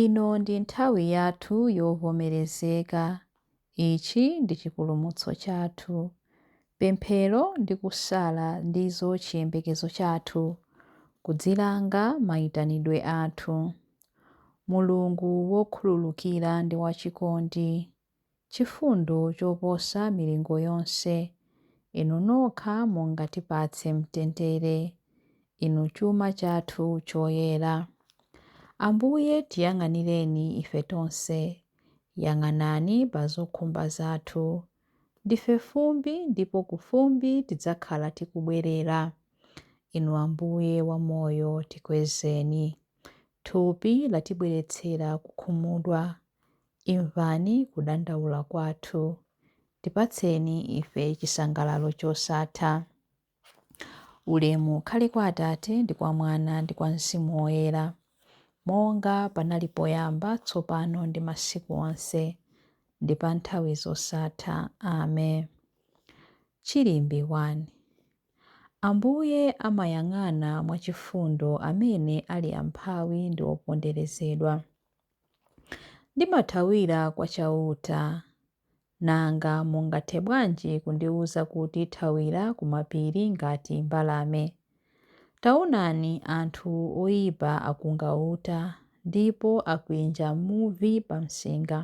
Ino ndi nthawi yathu yovomerezeka. Ichi ndi chipulumutso chathu. Pemphero ndi kusala ndizo chiyembekezo chathu, kudzilanga maitanidwe athu. Mulungu wokhululukira ndi wachikondi. chifundo choposa milingo yonse, Inu nokha mungatipatse mtendere, Inu chuma chathu choyera. Ambuye tiyang'anireni ife tonse, yang'anani pa zokhumba zathu. Ndife fumbi ndipo ku fumbi tidzakhala tikubwerera. Inu Ambuye wa moyo tikwezeni. Thupi latibweretsera kukhumudwa. Imvani kudandaula kwathu. Tipatseni ife chisangalalo chosatha. Ulemu ukhale kwa Atate, ndi kwa Mwana, ndi kwa Mzimu Woyera, monga panali poyamba, tsopano, ndi masiku onse, ndi pa nthawi zosatha. Ame. Chilimbi 1. Ambuye amayang'ana mwachifundo amene ali amphawi ndi oponderezedwa. Ndimathawira kwa Chauta. Nanga mungathe bwanji kundiwuza kuti, Thawira ku mapiri ngati mbalame? Taonani, anthu oipa akunga uta, ndipo akwinja muvi pamsinga,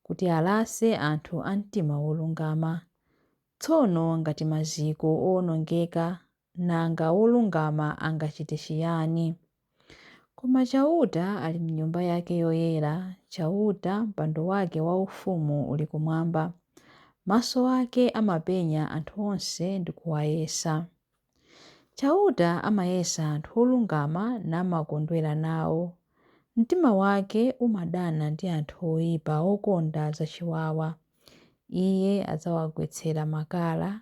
kuti alase anthu a mtima wolungama. Tsono ngati maziko oonongeka Nanga wolungama angachite chiyani? Koma Chauta ali m'Nyumba yake yoyera, Chauta, mpando wake waufumu uli kumwamba. Maso ake amapenya anthu onse ndi kuwayesa. Chauta amayesa anthu olungama namakondwera nawo. Mtima wake umadana ndi anthu oipa okonda zachiwawa. Iye adzawagwetsera makala,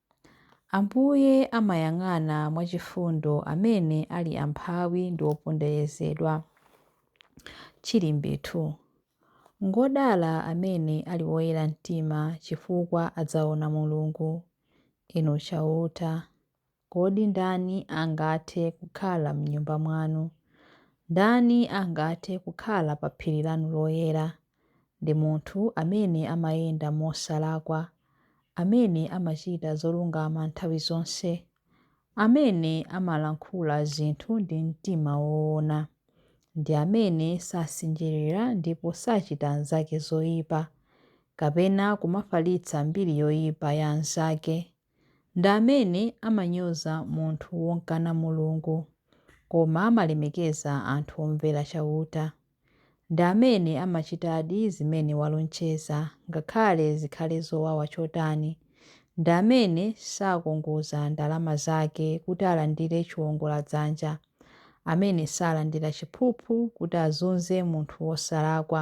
Ambuye amayang'ana mwachifundo amene ali amphawi ndi oponderezedwa. Chilimbi 2. Ngodala amene ali woyera mtima, chifukwa adzaona Mulungu. Inu Chauta, kodi ndani angathe kukhala m'Nyumba mwanu? Ndani angathe kukhala pa phiri lanu loyera? Ndi munthu amene amayenda mosalakwa, amene amachita zolungama nthawi zonse, amene amalankhula zinthu ndi mtima woona, ndi amene sasinjirira ndipo sachita anzake zoipa, kapena kumafalitsa mbiri yoipa ya anzake. ndi amene amanyoza munthu womkana Mulungu, koma amalemekeza anthu omvera Chauta, ndi amene amachitadi zimene walonjeza, ngakhale zikhale zowawa chotani, ndi amene sakongoza ndalama zake kuti alandire chiwongoladzanja, amene salandira chiphuphu kuti azunze munthu wosalakwa.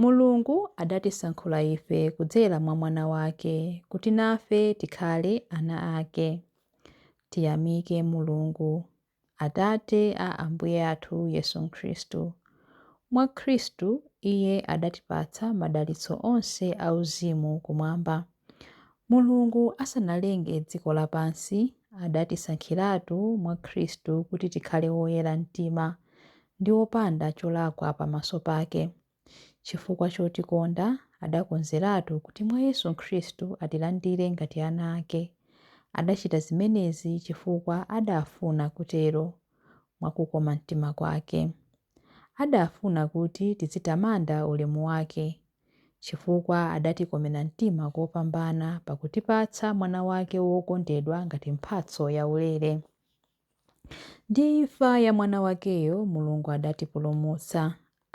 Mulungu adatisankhula ife kudzera mwa Mwana wake kuti nafe tikhale ana ake. Tiyamike Mulungu, Atate a Ambuye athu Yesu Khristu. Mwa Khristu, Iye adatipatsa madalitso onse auzimu Kumwamba. Mulungu asanalenge dziko lapansi, adatisankhiratu mwa Khristu kuti tikhale woyera mtima, ndi wopanda cholakwa pamaso pake. Chifukwa chotikonda, adakonzeratu kuti mwa Yesu Khristu atilandire ngati ana ake. Adachita zimenezi chifukwa adafuna kutero, mwa kukoma mtima kwake. Adafuna kuti tizitamanda ulemu wake, chifukwa adatikomera mtima kopambana pakutipatsa Mwana wake wokondedwa ngati mphatso yaulere. Ndi imfa ya Mwana wakeyo, Mulungu adatipulumutsa,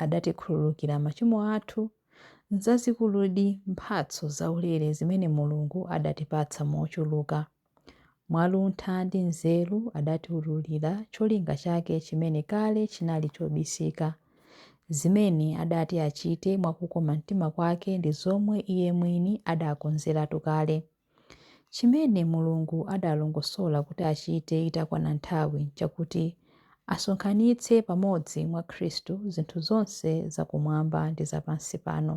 adatikhululukira machimo athu. Nzazikuludi mphatso zaulere zimene Mulungu adatipatsa mochuluka. Mwa luntha ndi nzeru adatiwululira cholinga chake chimene kale chinali chobisika. Zimene adati achite mwa kukoma mtima kwake ndi zomwe Iye mwini adakonzeratu kale. Chimene Mulungu adalongosola kuti achite itakwana nthawi nchakuti asonkhanitse pamodzi mwa Khristu zinthu zonse za kumwamba ndi za pansi pano.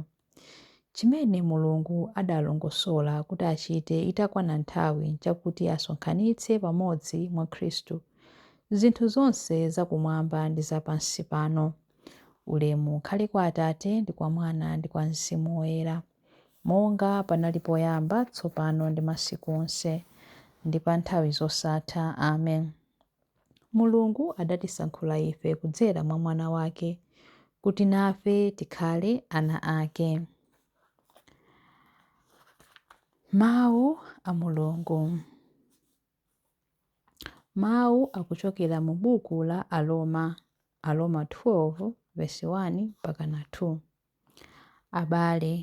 Chimene Mulungu adalongosola kuti achite itakwana nthawi nchakuti asonkhanitse pamodzi mwa Khristu zinthu zonse za kumwamba ndi za pansi pano. Ulemu ukhale kwa Atate ndi kwa Mwana ndi kwa Mzimu Woyera. monga panali poyamba, tsopano ndi masiku onse, ndi pa nthawi zosatha. Amen. Mulungu adatisankhula ife kudzera mwa Mwana wake, kuti nafe tikhale ana ake. Mawu a Mulungu Mawu akuchokera mu buku la Aroma, Aroma 12 vesi 1 mpaka na 2. Abale,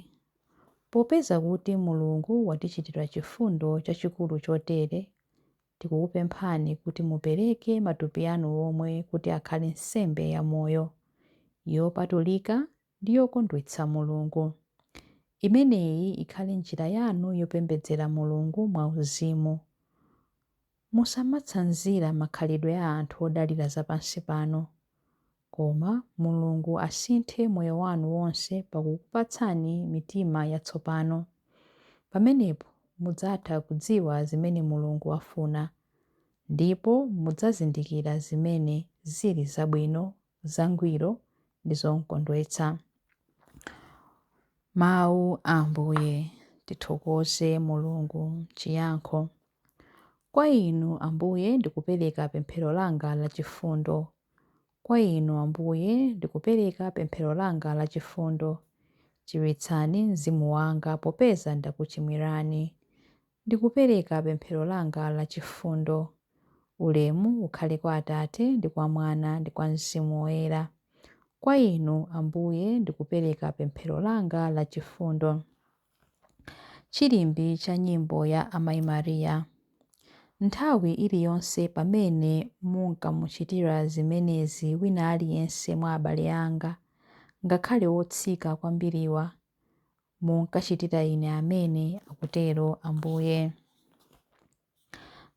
popeza kuti Mulungu watichitira chifundo chachikulu chotere, tikukupemphani kuti mupereke matupi anu omwe kuti akhale nsembe yamoyo, yopatulika ndi yokondwetsa Mulungu. Imeneyi ikhale njira yanu yopembedzera Mulungu mwauzimu. Musamatsanzira makhalidwe a anthu odalira za pansi pano, koma Mulungu asinthe moyo wanu wonse pakukupatsani mitima yatsopano. Pamenepo mudzatha kudziwa zimene Mulungu afuna, ndipo mudzazindikira zimene zili zabwino zangwiro ndi zomkondwetsa. Mawu a Ambuye. Tithokoze Mulungu. Chiyankho. Kwa Inu, Ambuye, ndikupereka pemphero langa la chifundo. Kwa Inu, Ambuye, ndikupereka pemphero langa la chifundo. Chiritsani mzimu wanga popeza ndakuchimwirani. Ndikupereka pemphero langa la chifundo. Ulemu ukhale kwa Atate, ndi kwa Mwana, ndi kwa Mzimu Woyera. Kwa Inu, Ambuye, ndikupereka pemphero langa la chifundo. Chilimbi cha nyimbo ya Amai Maria. Nthawi iliyonse pamene munkamuchitira zimenezi wina aliyense mwa abale anga, ngakhale otsika kwambiriwa, munkachitira ine amene akutero Ambuye.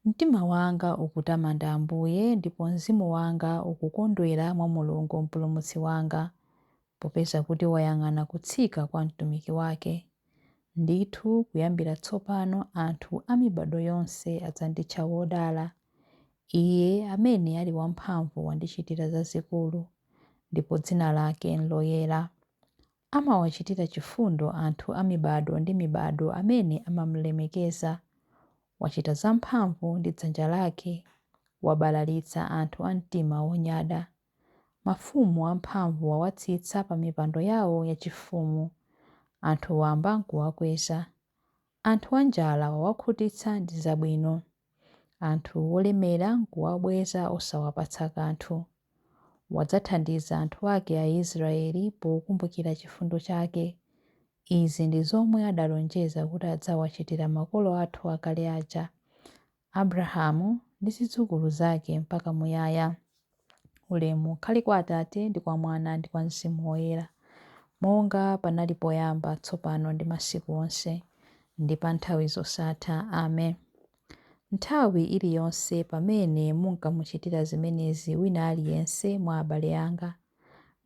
Mtima wanga ukutamanda Ambuye ndipo mzimu wanga ukukondwera mwa Mulungu Mpulumutsi wanga, popeza kuti wayang'ana kutsika kwa mtumiki wake. Ndithu kuyambira tsopano anthu a mibado yonse adzanditcha wodala. Iye amene ali wamphamvu wandichitira zazikulu, ndipo dzina lake n'loyera. Amawachitira chifundo anthu a mibado ndi mibado amene amam'lemekeza. Wachita zamphamvu ndi dzanja lake, wabalalitsa anthu a mtima wonyada. Mafumu amphamvu wawatsitsa pamipando yawo yachifumu, anthu wamba n'kuwakweza. Anthu anjala wawakhutitsa ndi zabwino, anthu olemera n'kuwabweza osawapatsa kanthu. Wadzathandiza anthu ake Aisiraeli pokumbukira chifundo chake. Izi ndi zomwe adalonjeza kuti adzawachitira makolo athu akale aja, Abrahamu ndi zidzukulu zake mpaka muyaya. Ulemu ukhale kwa Atate, ndi kwa Mwana, ndi kwa Mzimu Woyera, monga panali poyamba, tsopano ndi masiku onse, ndi pa nthawi zosatha. Amen. Nthawi iliyonse pamene munkamuchitira zimenezi wina aliyense mwa abale anga,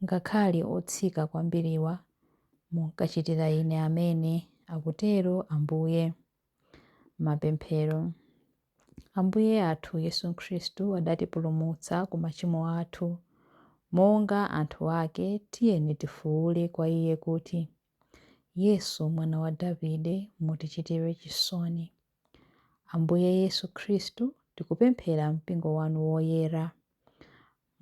ngakhale otsika kwambiriwa, munkachitira ine amene, akutero Ambuye. Mapemphero. Ambuye athu Yesu Khristu adatipulumutsa ku machimo athu. Monga anthu ake, tiyeni tifuule kwa Iye kuti, Yesu, Mwana wa Davide, mutichitire chisoni. Ambuye Yesu Khristu, tikupemphera Mpingo wanu woyera.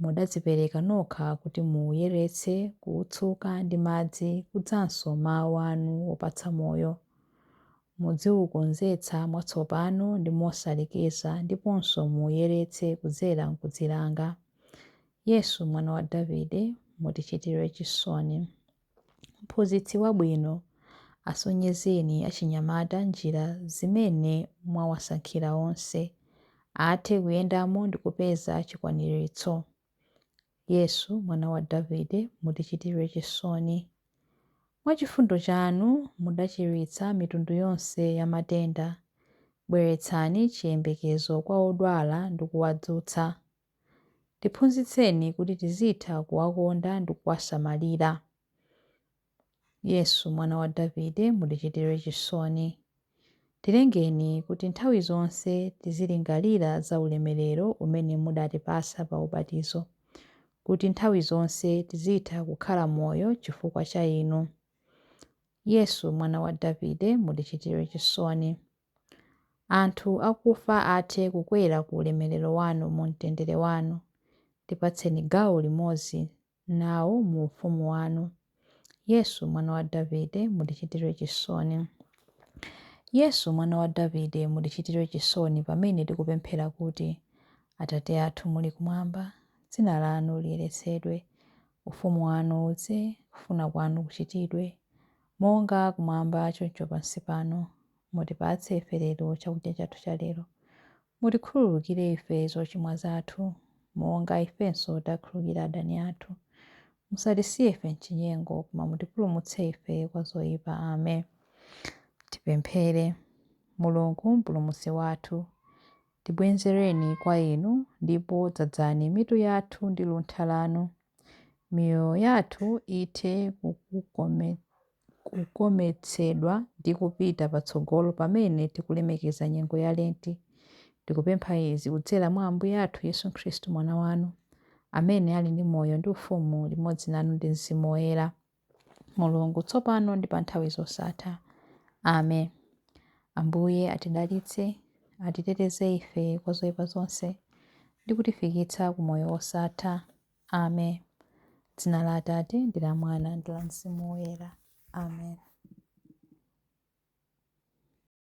Mudadzipereka nokha kuti muuyeretse, kuutsuka ndi madzi kudzanso mau anu opatsa moyo. Mudziukonzetsa mwatsopano ndi mosalekeza ndiponso muuyeretse kudzera m'kudzilanga. Yesu, Mwana wa Davide, mutichitire chisoni. Mphunzitsi wabwino, asonyezeni achinyamata njira zimene mwawasankhira onse athe kuyendamo ndi kupeza chikwaniritso. Yesu, Mwana wa Davide, mutichitire chisoni. Mwa chifundo chanu mudachiritsa mitundu yonse ya matenda. Bweretsani chiyembekezo kwa odwala ndi kuwadzutsa. Tiphunzitseni kuti tizitha kuwakonda ndi kuwasamalira. Yesu, Mwana wa Davide, mutichitire chisoni. Tilengeni kuti nthawi zonse tizilingalira za ulemerero umene mudatipatsa pa ubatizo, kuti nthawi zonse tizitha kukhala moyo chifukwa cha Inu. Yesu, Mwana wa Davide, mutichitire chisoni. Anthu akufa athe kukwera ku ulemerero wanu mu mtendere wanu. Tipatseni gawo limodzi nawo mu ufumu wanu. Yesu, Mwana wa Davide, mutichitire chisoni. Yesu, Mwana wa Davide, mutichitire chisoni pamene tikupemphera kuti, Atate athu muli kumwamba, dzina lanu liyeretsedwe. Ufumu wanu udze, kufuna kwanu kuchitidwe, Monga kumwamba choncho pansi pano, mutipatse ife lero chakudya chathu cha lero. Mutikhululukire ife zochimwa zathu, monga ifenso takhululukira adani athu. Musatisiye ife m'chinyengo, koma mutipulumutse ife kwa zoyipa. Ame. Tipemphere. Mulungu, Mpulumutsi wathu, tibwenzereni kwa Inu, ndipo dzadzani mitu yathu ndi luntha lanu. Miyoyo yathu ithe kukometsedwa ndi kupita patsogolo pamene tikulemekeza nyengo ya Lenti. Tikupempha izi kudzera mwa Ambuye athu Yesu Khristu Mwana wanu, amene ali ndi moyo ndi ufumu limodzi nanu ndi Mzimu Woyera. Mulungu, tsopano ndi pa nthawi zosatha. Amen. Ambuye atidalitse, atiteteze ife kwa zoipa zonse ndi kutifikitsa ku moyo wosatha. Amen. Dzina la Atate ndi la Mwana ndi la Mzimu Woyera. Amen.